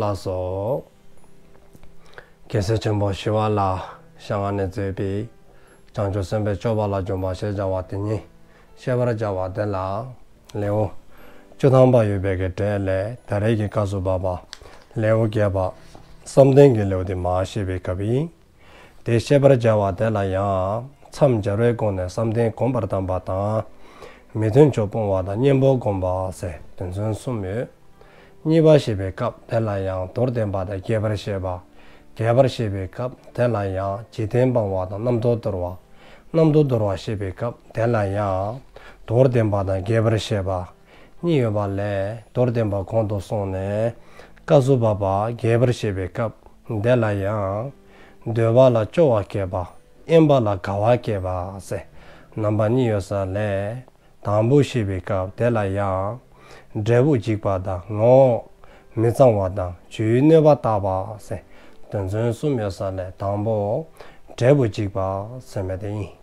ལ་སོགས་རྒྱལ་སྲས་ཆེན་པོ་ཞི་བ་ལ་ཤངས་ཨ་ནེ་མཛོད་པའི་བྱང་ཆུབ་སེམས་དཔའི་སྤྱོད་པ་ལ་འཇུག་པ་ཞེས་བྱ་བ་དེ་ཉིད་ཤེས་པར་བྱ་བ་འདི་ལ། ལེའུ་བཅུ་ཐམ་པ་ཡོད་པའི་གྲས་ལས་ད་རེས་ཀྱི་བཀའ་སུ་བབ་པ། ལེའུ་བརྒྱད་པ། བསམ་གཏན་གྱི་ལེའུ་སྟེ་མ་ཞེས་པའི་སྐབས་ཡིན། དེ་ཤེས་པར་བྱ་བ་དེ་ལ་ཡང། མཚམས་སྦྱར་བའི་སྒོ་ནས་བསམ་གཏན་གོམས་པར་བསྡམས་པ་དང། མི་མཐུན་ཕྱོགས་སྤོང་བ་དང་གཉེན་པོ་བསྒོམ་པ་སའི་དོན་ཚུལ་གསུམ་ཡོད། གཉིས་པ་ཤེས་པའི་སྐབས་དེ་ལ་ཡང་མདོར་བསྟན་པ་དང་རྒྱས་པར་བཤད་པ། རྒྱས་པར་ཤེས་པའི་སྐབས་དེ་ལ་ཡང་འཇིག་རྟེན་སྤང་བ་དང་རྣམ་རྟོག་འདོར་བ། རྣམ་རྟོག་འདོར་བ་ཤེས་པའི་སྐབས་དེ་ལ་ཡང། མདོར་བསྟན་པ་དང་རྒྱས་པར་བཤད་པ། གཉིས་ཡོད་པ་ལས་མདོར་བསྟན་པ་གོང་དུ་སོང་ནས་བཀའ་བསུ་བ་པ་རྒྱས་པར་བཤད་པའི་སྐབས་འདི་ལ་ཡང། འདོད་བ་ལ་སྐྱོ་བ་སྐྱེས་པ་གཡེམ་པ་ལ་དགའ་བ་སྐྱེས་པ་ཟེར་རྣམ་པ་གཉིས་ཡོད་ས་ལས། དང་པོ་ཞེས་པའི་སྐབས་དེ་ལ་ཡང། འབྲས་བུ་འཇིག་པ་དང་ངོ་བོ་མི་གཙང་བ་དང་བཅུའི་གནོད་པ་བརྟག་པ་ཟེར་དོན་ཚུལ་གསུམ་ཡོད་ས་ལས་དང་པོ། འབྲས་བུ་འཇིག་པ་ཟེར་མེད་དེ་ཡིན།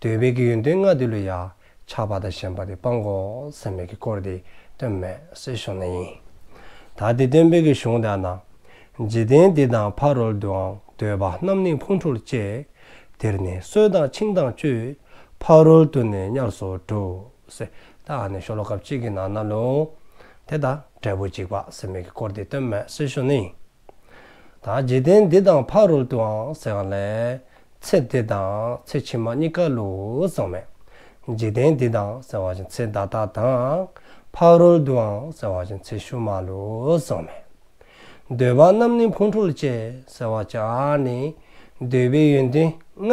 འདོད་པའི་གི་ཡོན་ཏན་ལྔ་འདི་ལོ་ཡ། ཆགས་པ་དང་ཞེན་པ་དེ་སྤང་གོ། སེམས་མེད་ཀྱི་སྐོར་འདི་སྟོན་མེད། སྲིད་གཞུང་ན་ཡིན། ད་འདི་སྟོན་དཔེ་གི་གཞུང་དག་ན། འཇིག་རྟེན་འདི་དང་ཕ་རོལ་དུའང་འདོད་པ་རྣམས་ནི་ཕུང་འཁྲུར་བཅས། དེར་ནི་གསོད་དང་འཆིང་དང་གཅོད། ཕ་རོལ་དུ་ནི་ཉར་སོ་དྲུག། སེ་ད་ཨ་ནི་ཤོ་ལོ་ཀ་གཅིག་གི་ནང་ན་ལུང། དེ་དང་འབྲས་བུ་འཇིག་པ་སེམས་མེད་ཀྱི་སྐོར་འདི་སྟོན་མེད་སྲིད་གཞུང་ན་ཡིན། དང། འཇིག་རྟེན་འདི་དང་ཕ་རོལ་ཏུའང་ཟེར་བ་ལས། ཚེ་འདི་དང་ཚེ་ཕྱི་མ་གཉིས་ཀ་ལུགས་བཟང་མེད། འཇིག་རྟེན་འདི་དང་ཟེར་བ་བཞིན་ཚེ་བདག་དག་དང། ཕ་རོལ་ཏུའང་ཟེར་བ་བཞིན་ཚེ་ཕྱི་མ་ལུགས་བཟང་མེད། འདོད་པ་རྣམས་ནི་འཕོ་འཁྲུལ་བཅས་ཟེར་བ་ཅག་ནི། འདོད་པའི་ཡོན་ཏན་ལྔ།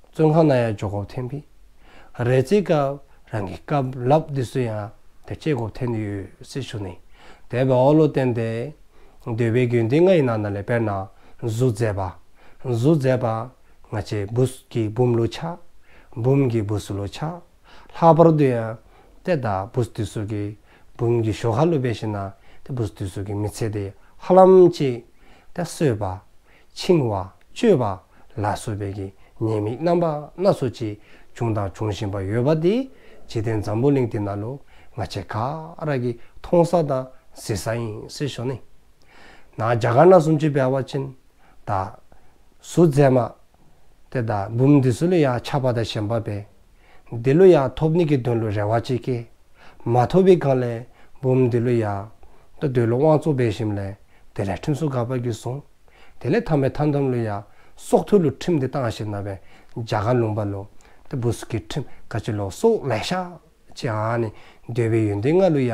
བཙོན་ཁང་ན་ཡང་ཇོ་ཁོག་འཐེན་པས། རལ་རྩེད་སྐབས་རང་གི་སྐབས་བསླབ་འདི་སུ་ཡང་དེར་ཆེད་སྒོ་འཐེན་དུ་ཡོད་སྲིད་ཞུ་ནས་དད་པའི་འོག་ལོ་བསྟན་ཏེ། འདོད་པའི་རྒྱུན་འདི་ང་ཡི་ནང་ན་ལས་དཔེར་ན་གཟུགས་མཛེས་པ། གཟུགས་མཛེས་པ། ང་ཆེ་བུ་ཀྱི་བུམ་ལོ་ཆག། བུམ་གྱི་བུ་སུ་ལོ་ཆག། ལྷག་པར་དུ་ཡང། ཏེ་ད་བུ་སུ་དུས་སུ་ཀྱི་བུམ་གྱི་ཞོ་ཁ་ལུས་པས་ཤི་ན་ཏེ་བུ་སུ་དུས་སུ་ཀྱི་མི་ཚེ་དེ་ཧ་ལམ་གཅིག། ཏེ་གསོས་པ། འཆིང་བ། གཅོད་པ། ལ་སོགས་པའི་གི་ཉེས་དམིགས་རྣམ་པ་སྣ་ཚོགས་ཅི་བྱུང་དང་འབྱུང་བཞིན་པ་ཡོད་པ་དེ་འཇིག་རྟེན་འཛམ་བུ་གླིང་འདི་ན་ལུང་ང་ཆེ་ཁ་རག་གིས་མཐོང་ས་དང་གཟིགས་ས་ཡིན་སྲིད་ཞོ་ནི། ན་རྒྱ་གར་ན་སུམ་ཅུ་བལ་བ་ཅན། ད། སུ་མཛད་མ། ཏེ་ད་འབུམ་འདི་སུ་ལ་ཡང་ཆགས་པ་དང་ཞེན་པ་བས། འདི་ལོ་ཡང་ཐོབ་ནི་གི་དོན་ལོ་རེ་བ་གཅིག་གི། མ་ཐོབ་བི་གང་ལན་འབུམ་འདི་ལོ་ཡ། ད་འདོད་ལོ་དབང་གཙོ་སྦས་ཞིམ་ལན་དེ་ལས་ཁྲིམས་སྲོལ་ག་པ་གི་བཟུང། དེ་ལས་ཐ་མའི་ཐ་འདམ་ལོ་ཡ། སྲོག་ཐོད་ལོ་ཁྲིམས་དེ་བཏང་ཞེ་ན་བན་རྒྱ་ག་ལུང་པ་ལོ། དེ་བུ་སུ་གི་ཁྲིམས་ག་ཅི་ལོ་སྲོག་ལས་ཤ། ཅེ་ཨ་ནི་འདོད་བི་ཡོན་ཏན་ལྔ་ལོ་ཡ།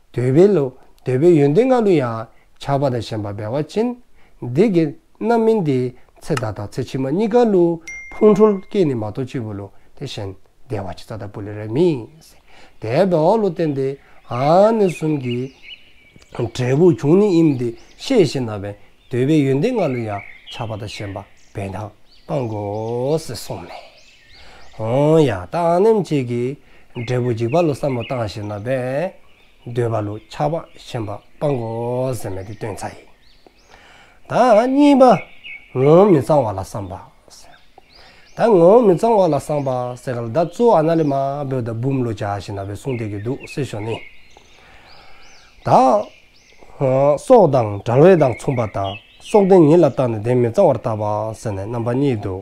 འདོད་པའི་ལུས། འདོད་པའི་ཡོན་ཏན་ལྔ་ལུས་ཡང། ཆགས་པ་དང་ཞེན་པ་འབེལ་བ་ཅན། འདི་དགེ། རྣམ་སྨིན་འདི། ཚེ་བདག་དང་ཚེ་ཕྱི་མ་གཉིས་ཀར་ལུས། ཕུང་ཁྲོལ་སྐྱེས་ནི་མ་གཏོགས་གཅིག་པུ་ལུས། དེ་བཞིན། བདེ་བ་ཆེ་ས་དང་པུ་ལེ་རའི་མིང། དེ་བས་འོག་ལོ་བསྟན་ཏེ། འང་ནི་གསུམ་གྱི། འབྲས་བུ་འབྱུང་ནི་དབྱིབས་འདི་ཤེས་ཤེ་ན། བས་འདོད་པའི་ཡོན་ཏན་ལྔ་ལུས་ཡང། ཆགས་པ་དང་ཞེན་པ་འབེལ་དང་སྤངས། གོ། སེ་གསུངས་ནས། ཡང་དག་སྣེམ་བཅས་ཀྱི། འབྲས་བུ་འཇིག་པ་ལོ་བསམ་བློ་བཏང་ཞེ་ན་པས། འདོད་པ་ལུས་ཆགས་པ་ཞེན་པ་སྤང་གོ་ཟེར་མེད་དེ་སྟོན་ཚ་ཡི། ད་གཉིས་པ། ངོ་བོ་མི་གཙང་བ་ལ་བསམ་པ། ད་ངོ་བོ་མི་གཙང་བ་ལ་བསམ་པ་ཟེར་ག་ལ་ད་གཙོ་ཨ་ན་ལི་མ་བོད་ད་བུམ་ལོ་བྱ་ཞེ་ན་པའི་གསུང་བསྡད་ཀྱི་འདུག་སེ་ཞོ་ནི། ད། སྲོག་དང་དྲང་བའི་དང་མཚུངས་པ་དང་སྲོག་དེ་ཉིད་ལ་བརྟགས་ནས་དེ་མི་གཙང་བར་བརྟགས་པ་ཟེར་ནས་རྣམ་པ་གཉིས་འདུག།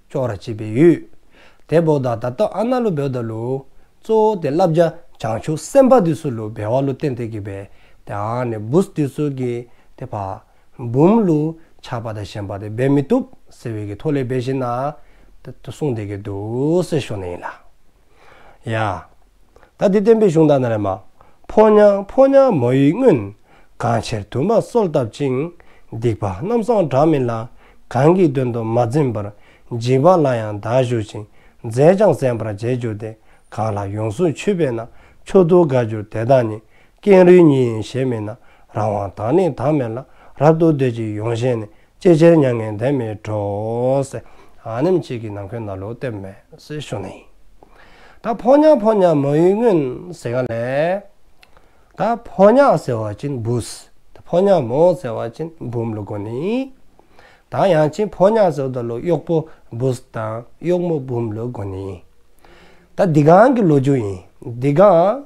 ཅོག་ར་བྱེད་པའི་ཡུལ། དེ་བོག་དང་ད་སྟོ་ཨ་ན་ལུ་བེའུ་ད་ལུ། གཙོ་བོ་དེ་བསླབ་བྱ་བྱང་ཆུབ་སེམས་དཔའ་དུས་སུ་ལུ་བེ་བ་ལུ་བསྟན་དེ་གི་བེ། དེ་ཨ་ནི་བུས་དུས་སུ་གི་དེ་བ། འབུམ་ལུ། ཆགས་པ་དང་ཞེན་པ་དེ་བེ་མི་བཏུབ། ཟེར་བའི་གི་ཐོ་ལེ་བེ་བཞིན་ན། ད་གསུངས་དེ་གི་དུ་སེ་ཤོ་ནི་ཡིན་ལ། ཡ། ད་འདི་བསྟན་པའི་གཞུང་དག་ན་རེ་མ། ཕོ་ཉང་ཕོ་ཉང་མོ་ཡི་སྔོན། གང་ཕྱིར་དུ་མ་གསོལ་བཏབ་ཅིང། སྡིག་པ་རྣམ་སངས་དྲག་མིན་ལ། གང་གིས་དོན་དུ་མ་འཛིན་པར། འཇིགས་པ་ལ་ཡང་བདག་བཞུགས་ཅིང། མཛད་ཅིང་གསན་པར་བྱས་གྱུར་ཏེ། གང་ལ་ཡོངས་སུ་ཆུད་པས་ན། མཆོག་ཏུ་དགའ་གྱུར་དེ་དག་ནི། ཀེང་རུས་ཉིད་ཡིན་ཞེས་སྨྲས་ན། རང་དབང་དང་ནི་དང་མེད་ལ། རབ་ཏུ་འདོད་ཅིང་ཡོངས་ཞེན་ནི། ཅེས་སྤྱན་མྱ་ངན་འདས་མའི་གྲོགས། ཨ་ནེམ་གཅིག་གིས་ནང་ཁོའི་ན་ལོ་བཏེབ། མེས་ཤོ་ནི། ད་ཕོ་ཉག་ཕོ་ཉག་མ་ཡུལ་སྔོན་ཟེ་ག་ལས། ད་ཕོ་ཉག་ཟེ་བ་ཅིན་བུ། ད་ཕོ་ཉག་མོ་ཟེ་བ་ཅིན་བུམ་ལོ་གོ་ནི། ད་ཡང་ཅིན་ཕོ་ཉག་ཟེ་བ་ད་ལོ་གཡོག་པོ་བུ་དང་གཡོག་མོ་བུམ་ལོ་གོ་ནི། ད་འདི་གང་གི་ལོ་རྒྱུ་ཡིན་འདི་གང།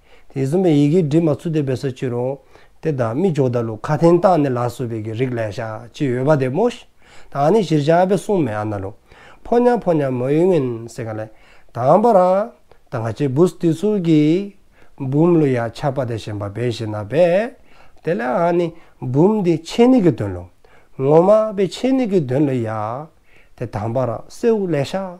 དེ་གསུམ་པའི་ཡི་གེའི་དྲི་མ་ཚུལ་དེ་བས་སོ་ཅི་རུང། དེ་དག་མི་འཇོག་ད་ལུ་ཁ་ཐན་རྟགས་ནི་ལ་སོ་བས་ཀྱི་རིགས་ལས་བྱ་ཅི་ཡོད་པ་དེ་མོ། དང་ནི་གཞིར་བྱ་ཨ་བས་གསུངས་མེ་ཨ་ན་རུ། ཕོ་ཉ་ཕོ་ཉ་མོ་ཡི་ངན་སེ་ག་ལས། དང་པ་ར། དང་ག་ཅི་བུ་སི་ཏི་ཚུལ་གྱི། འབུམ་ལུ་ཡ་ཆ་པ་དེ་ཞེན་པ་བས་ཤི་ན་བས། དེ་ལས་ཨ་ནི་འབུམ་དེ་ཆེ་ནི་གི་དོན་ལུ། ངོ་མ་བས་ཆེ་ནི་གི་དོན་ལུ་ཡ། དེ་དང་པ་ར་སེའུ་ལས་བྱ།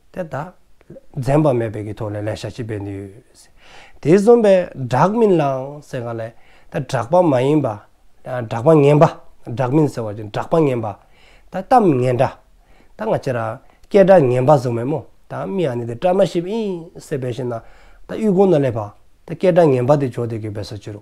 དེ་དག་འཛེམ་པ་མེད་པའི་གི་ཐོག་ནས་ལས་བྱ་བྱེད་པའི་ནུས། དེ་བཟོན་པའི་བསྒྲགས་མིན་ལའང་ཟེར་ག་ལས་ད་བསྒྲགས་པ་མ་ཡིན་པ། བསྒྲགས་པ་ངན་པ་བསྒྲགས་མིན་ཟེར་བ་བཞིན་བསྒྲགས་པ་ངན་པ། ད་གཏམ་ངན་འདྲ། ད་ང་ཅི་ར། སྐད་སྒྲ་ངན་པ་བཟོ་མེད་མོ། ད་མི་ཨ་ནི་དེ་བཀྲ་མ་ཤིས་པ་ཨིན། ཟེར་བའི་ཕྱིར་ན། ད་དབུས་གོང་ན་སླེབས་པ། ད་སྐད་སྒྲ་ངན་པ་དེ་བྱོ་དེ་གི་བས་སོ་ཅི་རུ།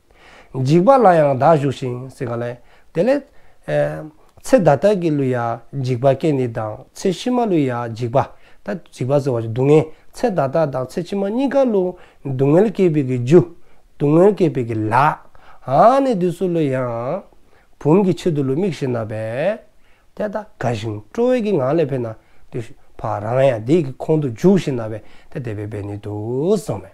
འཇིགས་པ་ལ་ཡང་བདག་ཞུགས་ཤིང་སེང་ག་ལས། དེ་ལས། ཚེ་བདག་དག་གིས་བསླུས་ཡ་འཇིགས་པ་སྐད་ནི་དང་ཚེ་ཕྱི་མ་བསླུས་ཡ་འཇིགས་པ། ད་འཇིགས་པ་ཟེར་བ་སྡུག་བསྔལ་ཚེ་བདག་དག་དང་ཚེ་ཕྱི་མ་གཉིས་ཀ་བསླུ། སྡུག་བསྔལ་སྐྱེད་པའི་གི་རྒྱུ། སྡུག་བསྔལ་སྐྱེད་པའི་གི་ལག། ཧཱ་ནི་དུས་སུ་བསླུ་ཡང། བུམ་གྱི་ཆེད་དུ་བསླུ་མིག་བཞིན་ན་བས། དེ་ལྟ་དགའ་ཞིང་སྤྲོ་བས་གི་ང་ལས་འཕེལ་ན། དེ་བཞིན་བ་རང་ཡང་དེའི་གི་ཁོང་དུ་འཇུག་བཞིན་ན་བས་དེ་དད་པའི་བས་ནི་དུ་སོང་བས།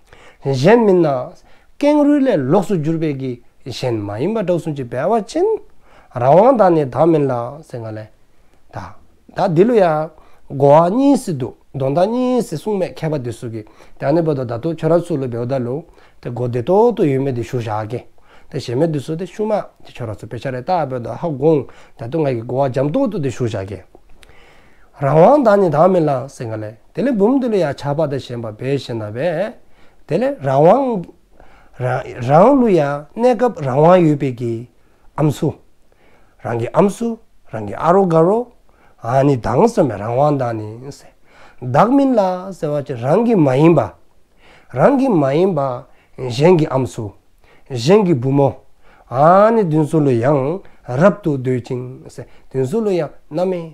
གཞན་མིན་ན། ཀེང་རུས་ལས་ལོགས་སུ་གྱུར་པའི་གིས་གཞན་མ་ཡིན་པ་གྲགས་གསུང་གྱི་སྦལ་བ་ཅན། རང་དབང་དག་ནི་དག་མིན་ལགས་སེང་ག་ལས། དག་དག་འདི་ལོ་ཡ། གོ་བ་གཉིས་སི་འདུག་མདོ་ཟླ་གཉིས་སི་གསུང་མེད་མཁས་པ་འདི་སུ་གི་དེ་ནི་བོ་དོ་ད་དོ་ཁྱོད་ར་སུ་ལོ་བེའུ་ད་ལོ། དེ་གོ་དེ་ཏོ་ཏོ་ཡོད་མེད་དེ་ཞུ་ཞག་གི། དེ་ཞེ་མེད་དེ་སུ་དེ་ཤུ་མ་དེ་ཁྱོད་ར་སུ་བེ་ཆ་རེ་ད་བོ་དོ་ཧ་གོང་ད་དོ་ང་གི་གོ་བ་འཇམ་ཏོ་ཏོ་དེ་ཞུ་ཞག་གི། རང་དབང་དག་ནི་དག་མིན་ལགས་སེང་ག་ལས། དེ་ལས་བུམ་དེ་ལ་ཡང་ཆགས་པ་དང་ཞེན་པ་འབའ་ཞིག་ན་བས། དེ་ལས་རང་དབང། རང་བློ་ཡང་གནས་སྐབས་རང་དབང་ཡོད་པས་ཀྱི། ཨམ་སུ། རང་གི་ཨམ་སུ། རང་གི་ཨ་རོ་ག་རོ། ཨ་ནི་བདག་སོ་མའི་རང་དབང་དང་ནི། བདག་མིན་ལ་ཟེར་བ་ཅི་རང་གི་མ་ཡིན་པ། རང་གི་མ་ཡིན་པ། གཞན་གྱི་ཨམ་སུ། གཞན་གྱི་བུ་མོ། ཨ་ནི་བདུན་སོ་ལོ་ཡང་རབ་ཏུ་འདོད་ཅིང། བདུན་སོ་ལོ་ཡང་རྣམ་སྨིན།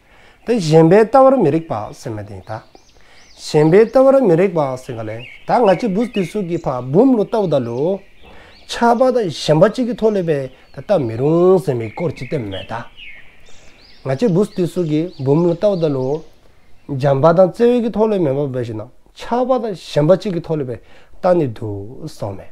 དེ་གཞན་པའི་ལྟ་བར་མི་རིགས་པ་སེམས་མ་དེ་དག། གཞན་པའི་ལྟ་བར་མི་རིགས་པ་སེམས་ག་ལས་ད་ང་ཅི་བུ་དེ་སུ་གི་ཕ་བུམ་ལོ་ལྟ་བུ་དག་ལོ། ཆགས་པ་དང་ཞེན་པ་གཅིག་གི་ཐོག་ལས་པས་ད་ལྟ་མི་རུང་ཟེར་མི་སྐོར་ཅི་སྟེ་མེད་ད། ང་ཅི་བུ་དེ་སུ་གི་བུམ་ལོ་ལྟ་བུ་དག་ལོ། འཇམ་པ་དང་བརྩེ་བས་ཀྱི་ཐོག་ལས་མེད་པ་བས་ཞེ་ན་ཆགས་པ་དང་ཞེན་པ་གཅིག་གི་ཐོག་ལས་པས་ད་ནི་དུ་སོང་མེད།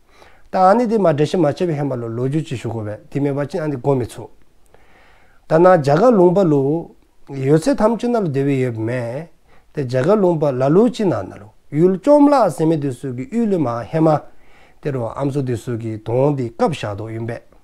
ད་ཨ་ནི་དེ་མ་འདྲ་ཞིག་མ་བྱས་པའི་ཧན་པ་ལོ་ལོ་རྒྱུས་ཅི་ཞུ་དགོས་བས་དེ་མེད་པ་ཅི་ཨ་ནི་གོ་མི་ཆུག། ད་ནང་རྒྱ་གར་ལུང་པ་ལུ། ཡོད་ཚད་ཐམས་ཅད་ན་ལུ་དེ་བས་ཡོད་པ་མེད། དེ་རྒྱ་གར་ལུང་པ་ལ་ལུ་ཅི་ན་ན་ལུ་ཡུལ་བཅོམ་བརླག་ཟེར་མེད་དུས་སུ་གི་དབུས་ལུས་མ་ཧན་མ། དེ་རུ་ཨམ་སོ་དུས་སུ་གི་དོང་དེ་སྐབས་ཞག་དོག་ཡིན་པས།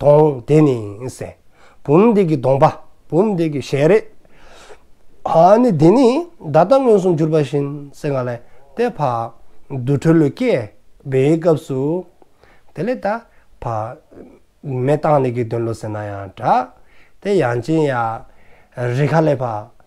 དོང་དེ་ནི་སྲས། བུམ་འདི་གི་དོང་པ། བུམ་འདི་གི་ཞལ་རས། ཨ་ནི་དེ་ནི་བརྡ་རྟ་མངོན་སུམ་གྱུར་པ་བཞིན་སེ་ང་ལས་དེ་འཕགས། དུར་ཁྲོད་ལུས་སྐྱེ་བའི་སྐབས་སུ། དེ་ལས་ད་འཕགས། མེ་བཏང་ནི་གི་དོན་ལོ་ཟེར་ན་ཡང་འདྲ། དེ་ཡང་ཅན་ཡང། རི་ཁ་ལས་འཕགས།